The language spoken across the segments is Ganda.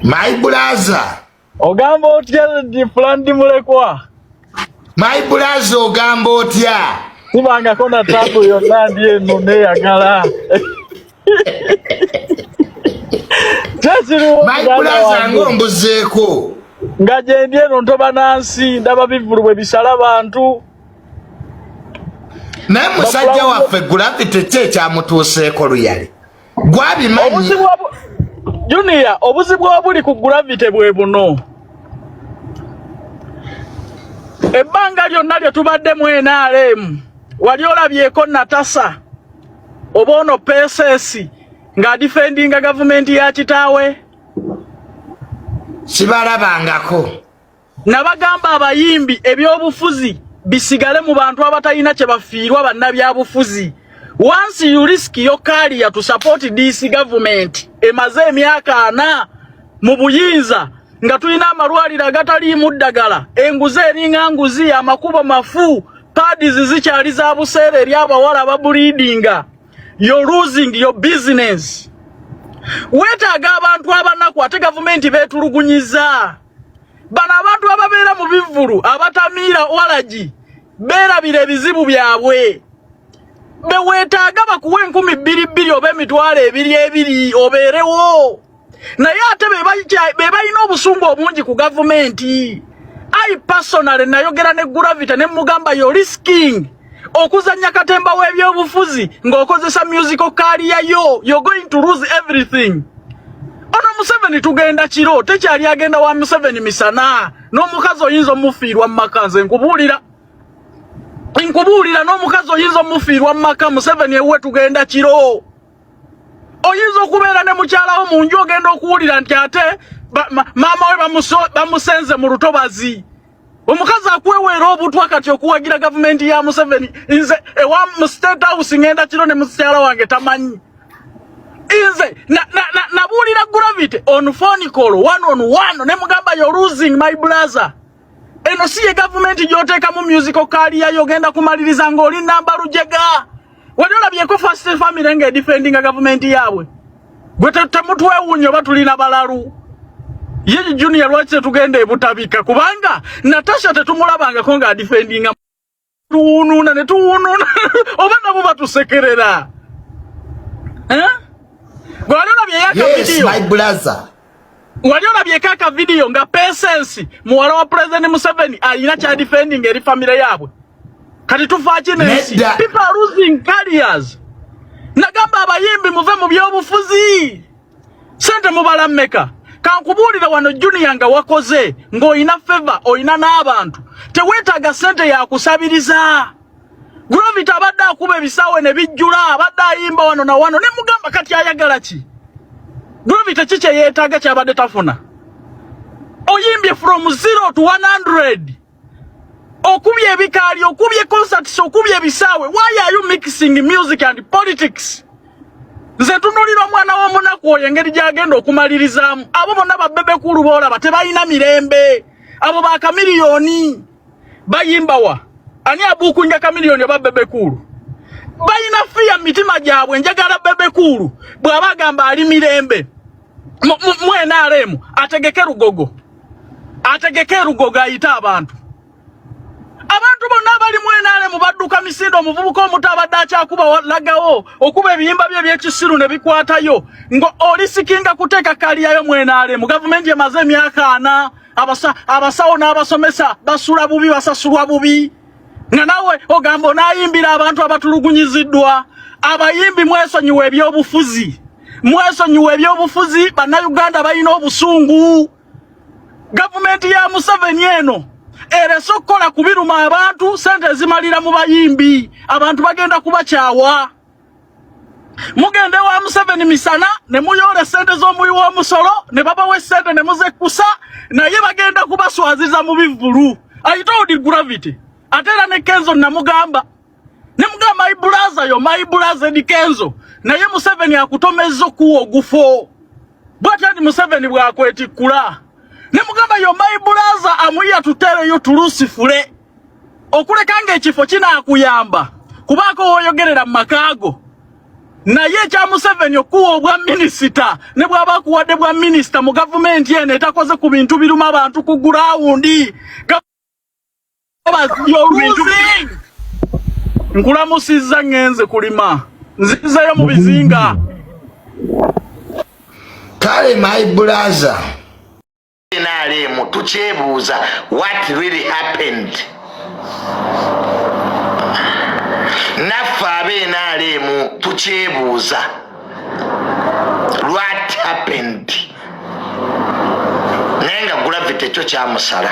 My brother. Ogamba otya ndi fulani mulekwa. My brother ogamba otya. Sibanga kona tabu yonna ndi eno neyagala. My brother ngombuzeeko. Nga gyendi eno ntoba nansi ndaba bivulu bwe bisala bantu. Naye musajja waffe gravity kye kyamutuuseeko luyali. gwabimanyi junior obuzibu obuli ku gravity bwe buno ebbanga lyonna lye tubadde mu nrm wali olabyeko natasa oba ono pesesi ng'adifendinga gavumenti ya kitaawe sibalabangako nabagamba abayimbi ebyobufuzi bisigale mu bantu abatalina kye bafiirwa bannabyabufuzi once you risk your career to support this government emaze emyaka ana mu buyinza nga tulina amalwaliro agataliimu ddagala enguzi eringa nguzi amakubo mafu pads zikyali za buseera eri abawala babuliidinga you're losing your business weetaaga abantu abanaku ate gavumenti beetulugunyiza bano abantu ababeera mu bivvulu abatamiira walagi beerabira ebizibu byabwe beweetaaga bakuwa enkumi bbiri bbiri oba emitwalo ebiri ebiri obeerewo naye ate be balina obusungu obungi ku gavumenti i personally nayogera ne gravity ne mugamba yo risking okuzanya katemba w'ebyobufuzi ng'okozesa musical career yo you're going to lose everything ono museveni tugenda kiro tekyali agenda wa museveni misana n'omukazi oyinza omufiirwa mu maka nze nkubuulira nkubuulira n'omukazi oyinza omufiirwa mu maka museveni ewuwe tugenda kiro oyinza okubeera ne mukyalawo mu nju ogenda okuwulira nti ate maama we bamusenze mu lutobazi omukazi akweweera obutwa kati okuwagira gavumenti ya museveni nze ewa mu state house ngenda kiro ne mukyala wange tamanyi nze nabuulira na, na gravity on phone call one on one ne mugamba yo losing my blazer eno si ye gavumenti gy'oteekamu musical kaaliyayo ogenda kumaliriza ng'oli namba lujega wali olabyeko first family nga edifendinga gavumenti yaabwe gwe temutwewuunya oba tulina balalu ye junior lwaki tetugenda ebutabika kubanga natasha tetumulabangako nga adifendinga tuwunuuna ne tuwunuuna oba nabo batusekerera eh? gwe wali olabye yaka vidiyo Wali olabyeko aka video nga Patience muwala wa President Museveni alina kya defending eri family yaabwe. Kati tufa ki nensi. People are losing careers. Nagamba abayimbi muve mu byobufuzi. Sente mubala mmeka? Kankubuulira wano Junior nga wakoze ng'olina favor olina n'abantu. Teweetaaga sente ya kusabiriza. Gravity abadde akuba ebisaawe ne bijjula, abadde ayimba wano na wano, ne mugamba kati ayagala ki? Gravity ki kye yeetaaga kyabadde tafuna? Oyimbye from zero to 100 okubye ebikaali, okubye concerts, okubye ebisaawe. Why are you mixing music and politics? Nze tunulira omwana w'omunaku oyo engeri gy'agenda okumalirizaamu. Abo bonna babbebekulu boolaba tebalina mirembe. Abo ba kamiliyoni. bayimba wa ani abuukunja kamiliyoni oba bebe kuulu balina fiya mitima gyabwe njagala bebe kuulu bw'aba agamba ali mirembe mu nrm ategeke lugogo ategeke lugogo ayite abantu abantu bonna abali mu nrm badduka misinde omuvubuka omuto abadde akyakuba lagawo okuba ebiyimba bye ebyekisiru ne bikwatayo nga olisikinga kuteeka kaliyayo mu nrm gavumenti emaze emyaka ana abasa abasawo n'abasomesa basula bubi basasulwa bubi nga nawe ogamba onayimbira abantu abatulugunyiziddwa abayimbi mwesonyiwa ebyobufuzi mwesonyiwa ebyobufuzi bannayuganda balina obusungu gavumenti ya museveni eno erese okukola ku biruma abantu sente ezimalira mu bayimbi abantu bagenda kubakyawa mugende wa Museveni misana ne muyola esente z'omuwi w'omusolo ne babawa esente ne muzekkusa naye bagenda kubaswaziza mu bivvulu I told you gravity ate era ne Kenzo namugamba ne mugamba my brother yo my brother di Kenzo naye Museveni akutomezza okuwa ogufo bwatyo ndi Museveni bwakwetikkula ne mugamba yo my brother amuya tutereyo tulusifule okuleka ng'ekifo kinaakuyamba kubaako w'oyogerera mu maka go naye ekya Museveni okuwa obwa minisita ne bwaba akuwadde bwa minisita mu gavumenti eno etakoze ku bintu biruma abantu ku gurawundi nkulamusizza ngenze kulima nzizayo mu bizinga kale my brother nrm tukyebuuza what really happened naffe abe nrm tukyebuuza what happened naye nga gravity kyo kyamusala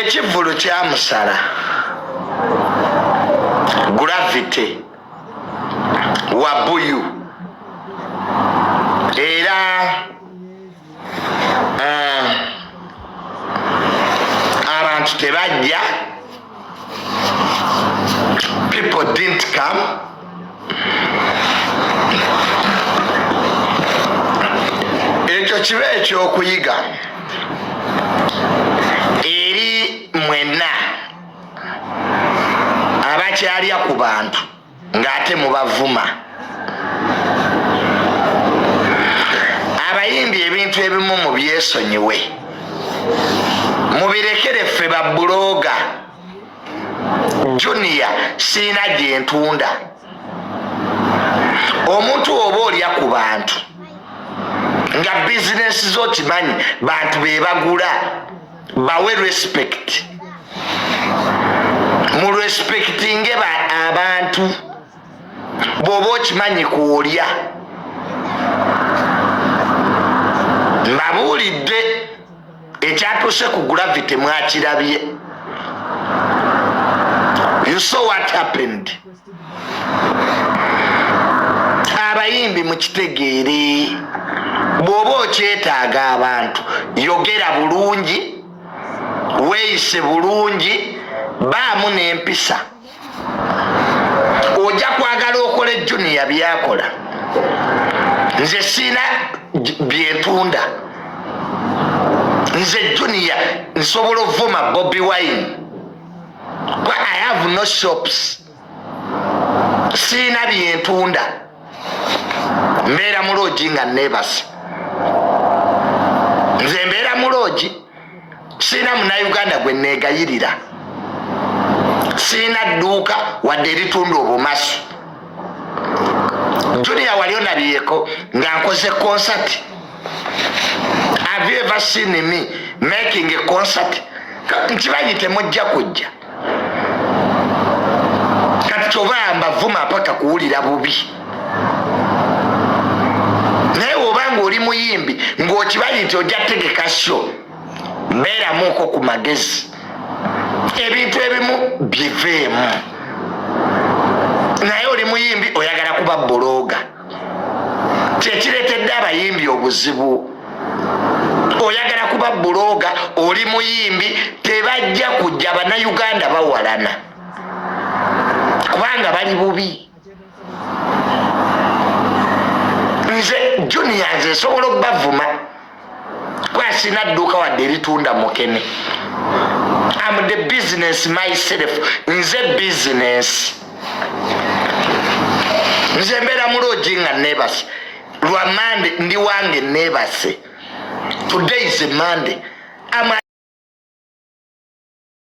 ekivvulu kyamusala gravity wabuyu era eh, abantu tebajja people didn't come ekyo kiba ekyokuyiga eri mwenna abakyalya ku bantu ng'ate mubavuma abayimbi ebintu ebimu mu byesonyiwe mubirekere ffe babuloga junior siina gyentunda omuntu oba olya ku bantu nga bizinesi zo kimanyi bantu bebagula bawe respect mu respectinge abantu bwoba okimanyi kwolya mbabuulidde ekyatuuse ku gravity mwakirabye you saw what happened abayimbi mukitegeere bwoba okyetaaga abantu yogera bulungi weyise bulungi baamu nempisa oja kwagala okole juniya byakola nze siina byentunda nze juniya nsobola ovuma bobi wine i have no shops siina byentunda mbeera mu loogi nga nebase nze mbeera mu loogi siina munauganda gwe negayirira siina dduuka wadde eritunda obumasu junia wali onabyeko nga nkoze konsati have you ever seen me making a concert nkibanyi temujja kujja kati kyoba mbavuma apaka kuwulira bubi naye woba nga oli muyimbi ngaokibanyi nti ojja tegeka sho beeramuuko ku magezi ebintu ebimu biveemu naye oli muyimbi oyagala kuba buloga kyekiretedde abayimbi obuzibu oyagala kuba buloga oli muyimbi tebajja kujja banauganda bawalana kubanga bali bubi nze junior nze nsobola okubavuma kwasina dduuka wadde eritunda mukene am the business myself nze business nze mbeera muloogi nga nebase lwa mande ndi wange nebase today is a monday